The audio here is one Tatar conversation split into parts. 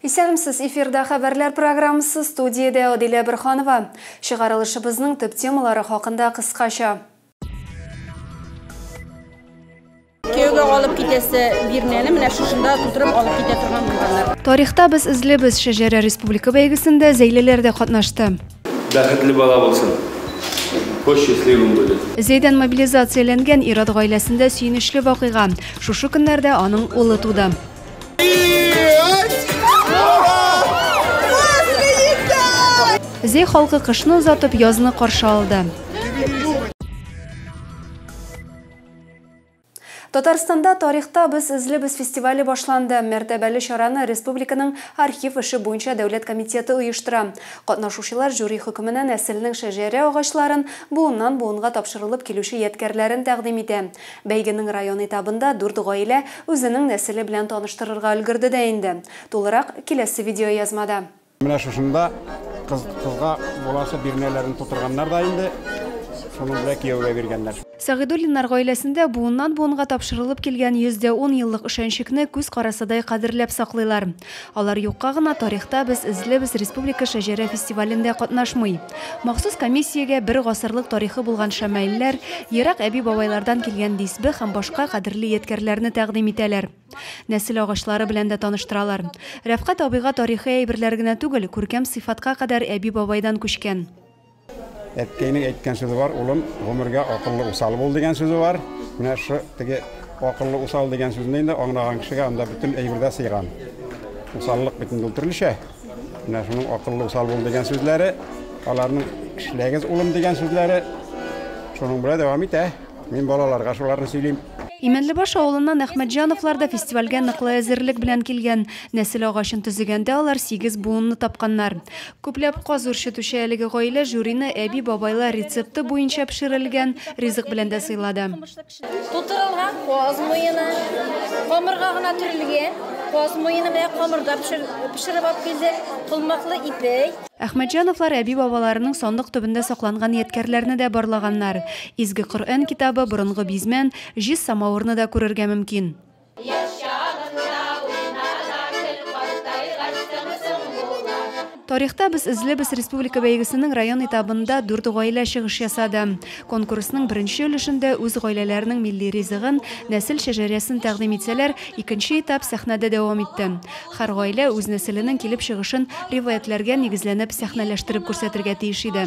Исәнмсез, эфирда хәбәрләр программасы, студиядә Адилә Бөрханова. Чыгарылышыбызның төп темалары хакында кыскача. Кияүгә алып китәсе бирнәне менә шушында тутырып алып китә торган булганнар. Тарихта без эзлибез шәҗәрә республика бәйгесендә Зәйлеләр дә катнашты. Бәхетле бала булсын. Бу счастливым будет. Зәйдән мобилизацияләнгән ир-ат гаиләсендә сөенечле вакыйга. Шушы көннәрдә аның улы туды. Зей халкы кышны озатып язны каршы алды. Татарстанда тарихта без эзлебез фестивале башланды. Мәртәбәле чараны республиканың архив эше буенча дәүләт комитеты оештыра. Катнашучылар жюри хөкеменә нәселнең шәҗәрә агачларын, буыннан буынга тапшырылып килүче ядкәрләрен тәкъдим итә. Бәйгенең район этабында дүрт гаилә үзенең нәселе белән таныштырырга өлгерде дә инде. Тулырак, киләсе видеоязмада. Менә шушында кыз кызга буласы бирнәләрен тутырганнар да инде, шуны белә кияүгә биргәннәр. Сәгыйдуллиннар гаиләсендә буыннан-буынга тапшырылып килгән йөз дә ун еллык өшәнчекне күз карасыдай кадерләп саклыйлар. Алар юкка гына тарихта без эзлибез республика шәҗәрә фестивалендә катнашмый. Махсус комиссиягә бер гасырлык тарихы булган шәмаилләр, ерак әби-бабайлардан килгән дисбе һәм башка кадерле ядкәрләрне тәкъдим итәләр. Нәсел агачлары белән дә таныштыралар. Рәфкать абыйга тарихи әйберләр генә түгел, күркәм сыйфатка кадәр әби-бабайдан күчкән. Әткәйнең әйткән сүзе бар, улым, гомергә акыллы усал бул дигән сүзе бар. Менә шу теге акыллы усал дигән сүзне инде аңлаган кешегә анда бөтен әйбердә сыйган. Усаллык бит инде төрлечә. Менә шуның акыллы усал бул дигән сүзләре, аларның эшләгез улым дигән сүзләре шуның белән дәвам итә. Мин балаларга шуларны сөйлим. Имәнлебаш авылыннан Әхмәтҗановлар да фестивальгә ныклы әзерлек белән килгән. Нәсел агачын төзегәндә алар сигез буынны тапканнар. Күпләп каз үрчетүче әлеге гаилә жюрины әби-бабайлар рецепты буенча пешерелгән ризык белән дә сыйлады. Тутырылган каз муены, камырга гына төрелгән каз муены белән камырда пешереп алып килдек, колмаклы ипи. Әхмәтҗановлар әби-бабаларының сандык төбендә сакланган ядкәрләрне дә барлаганнар. Изге Коръән китабы, борынгы бизмән, җиз самавырны да күрергә мөмкин. Яшь чагында уйна да көл, картайгач тыңсың була. Тарихта без эзлебез республика бәйгесенең район этабында дүрт гаилә чыгыш ясады. Конкурсның беренче өлешендә үз гаиләләренең милли ризыгын, нәсел шәҗәрәсен тәкъдим итсәләр, икенче этап сәхнәдә дәвам итте. Һәр гаилә үз нәселенең килеп чыгышын риваятьләргә нигезләнеп сәхнәләштереп күрсәтергә тиеш иде.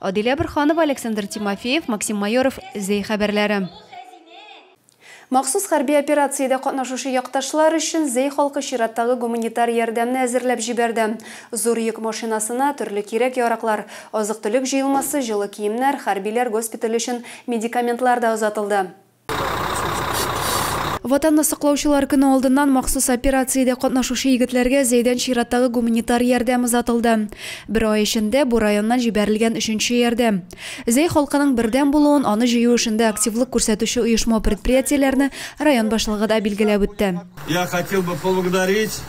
Адилә Борханова, Александр Тимофеев, Максим Майоров, Зәй хәбәрләре. Махсус хәрби операциядә катнашучы якташлар өчен Зәй халкы чираттагы гуманитар ярдәмне әзерләп җибәрде. Зур йөк машинасына, төрле кирәк-яраклар, азык-төлек җыелмасы, җылы киемнәр, хәрбиләр госпитале өчен медикаментлар да озатылды. Ватанны саклаучылар көне алдыннан махсус операциядә катнашучы егетләргә Зәйдән чираттагы гуманитар ярдәм озатылды. Бер ай эчендә бу районнан җибәрелгән өченче ярдәм. Зәй халкының бердәм булуын, аны җыю эшендә активлык күрсәтүче оешма-предприятиеләрне район башлыгы да билгеләп үтте. Я хотел бы поблагодарить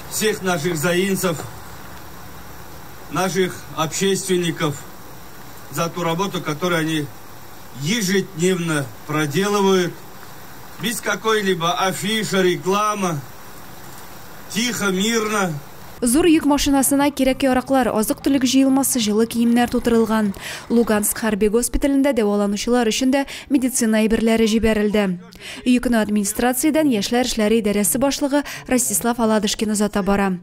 всех наших заинцев, наших общественников за ту работу, которую они ежедневно проделывают без какой-либо афиши, рекламы, тихо, мирно. Зур йөк машинасына кирәк-яраклар, азык-төлек җыелмасы, җылы киемнәр тутырылган. Луганск хәрби госпиталендә дәваланучылар өчен дә медицина әйберләре җибәрелде. Йөкне администрациядән яшьләр эшләре идарәсе башлыгы Ростислав Аладышкин озата бара.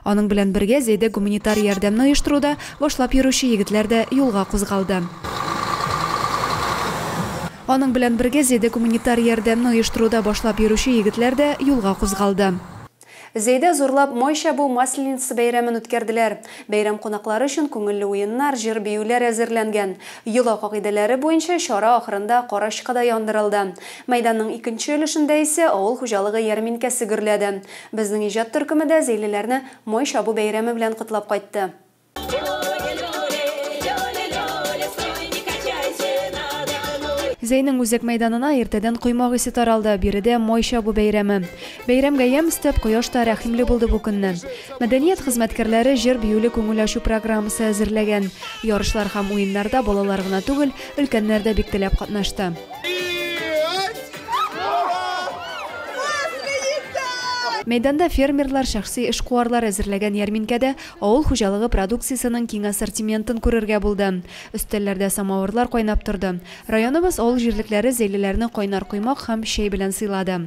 Аның белән бергә Зәйдә гуманитар ярдәмне оештыруда башлап йөрүче егетләр дә юлга кузгалды. Аның белән бергә Зәйдә гуманитар ярдәмне оештыруда башлап йөрүче егетләр дә юлга кузгалды. Зәйдә зурлап май чабу Масленица бәйрәмен үткәрделәр. Бәйрәм кунаклары өчен күңелле уеннар, җыр-биюләр әзерләнгән. Йола кагыйдәләре буенча чара ахырында карачкы да яндырылды. Мәйданның икенче өлешендә исә авыл хуҗалыгы ярминкәсе гөрләде. Безнең иҗат төркеме дә зәйлеләрне Май чабу бәйрәме белән котлап кайтты. Зәйнең үзәк мәйданына иртәдән коймак исе таралды, биредә Май чабу бәйрәме. Бәйрәмгә ямь өстәп, кояш та рәхимле булды бу көнне. Мәдәният хезмәткәрләре җыр-биюле күңел ачу программасы әзерләгән. Ярышлар һәм уеннарда балалар гына түгел, өлкәннәр дә бик теләп катнашты. Мәйданда фермерлар, шәхси эшкуарлар әзерләгән ярминкәдә авыл хуҗалыгы продукциясенең киң ассортиментын күрергә булды. Өстәлләрдә самавырлар кайнап торды. Районыбыз авыл җирлекләре зәйлеләрне кайнар коймак һәм чәй белән сыйлады.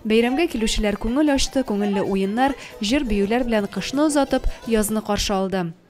Бәйрәмгә килүчеләр күңел ачты, күңелле уеннар, җыр-биюләр белән кышны озатып, язны каршы алды.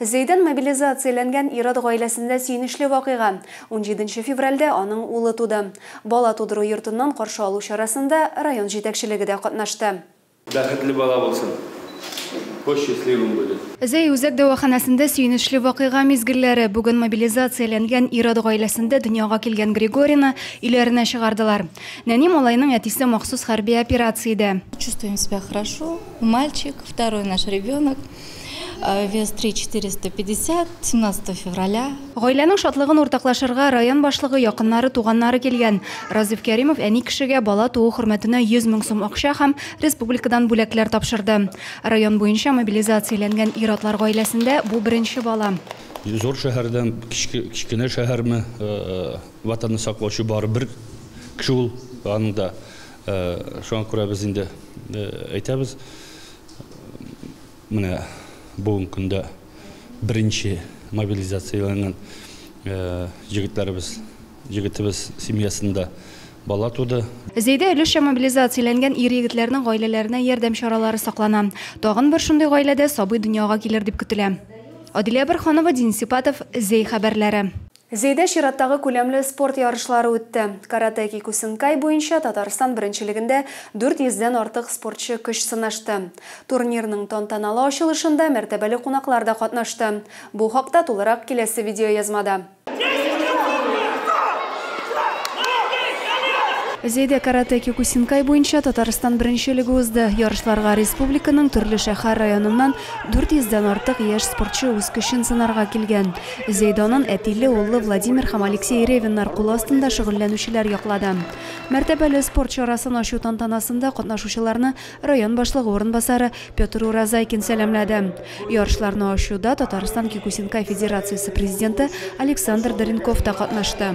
Зәйдән мобилизацияләнгән ир-ат гаиләсендә сөенечле вакыйга. Унҗиденче февральдә аның улы туды. Бала тудыру йортыннан каршы алу чарасында район җитәкчелеге дә катнашты. Бәхетле бала булсын. Бу счастливым будет. Зәй үзәк дәваханәсендә сөенечле вакыйга мизгелләре. Бүген мобилизацияләнгән ир-ат гаиләсендә дөньяга килгән Григорийны өйләренә чыгардылар. Нәни малайның әтисе махсус хәрби операциядә. Чувствуем себя хорошо, мальчик, второй наш ребенок. Вес 3450, 17 февраля. Гаиләнең шатлыгын уртаклашырга район башлыгы, якыннары, туганнары килгән. Разиф Кәримов әни кешегә бала туу хөрмәтенә 100 мең сум акча һәм республикадан бүләкләр тапшырды. Район буенча мобилизацияләнгән ир-атлар гаиләсендә бу беренче бала. Зур шәһәрдән кечкенә шәһәрме, Ватанны саклаучы бары бер кеше ул, аның да. Шуңа күрә без инде әйтәбез. Менә бүгенге көндә беренче мобилизацияләнгән җегетләребез, җегетебез семьясында бала туды. Зәйдә өлешчә мобилизацияләнгән ир-егетләрнең гаиләләренә ярдәм чаралары саклана. Тагын бер шундый гаиләдә сабый дөньяга килер дип көтелә. Адилә Борһанова, Дин Сипатов, Зәй хәбәрләре. Зәйдә чираттагы күләмле спорт ярышлары үтте. Каратэ кикусинкай буенча Татарстан беренчелегендә 400 дән артык спортчы көч сынашты. Турнирның тантаналы ачылышында мәртәбәле кунаклар да катнашты. Бу хакта тулырак киләсе видеоязмада. Зәйдә каратэ кикусинкай буенча Татарстан беренчелеге узды. Ярышларга республиканың төрле шәһәр-районыннан 400 дән артык яшь спортчы үз көчен сынарга килгән. Зәйданын әтиле-уллы Владимир һәм Алексей Ревиннар кул астында шөгыльләнүчеләр яклады. Мәртәбәле спорт чарасын ачу тантанасында катнашучыларны район башлыгы урынбасары Петр Уразайкин сәламләде. Ярышларны ачуда Татарстан кикусинкай федерациясе президенты Александр Дренков та катнашты.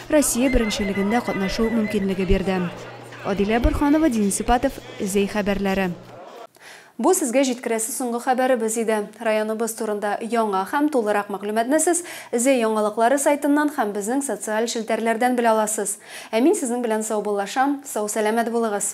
Россия беренчелегендә катнашу мөмкинлеге бирде. Адилә Борһанова, Денис Сипатов, Зәй хәбәрләре. Бу сезгә җиткерәсе соңгы хәбәребез иде. Районыбыз турында яңа һәм тулырак мәгълүматны сез Зәй яңалыклары сайтыннан һәм безнең социаль челтәрләрдән белә аласыз. Ә мин сезнең белән саубуллашам, сау-сәламәт булыгыз!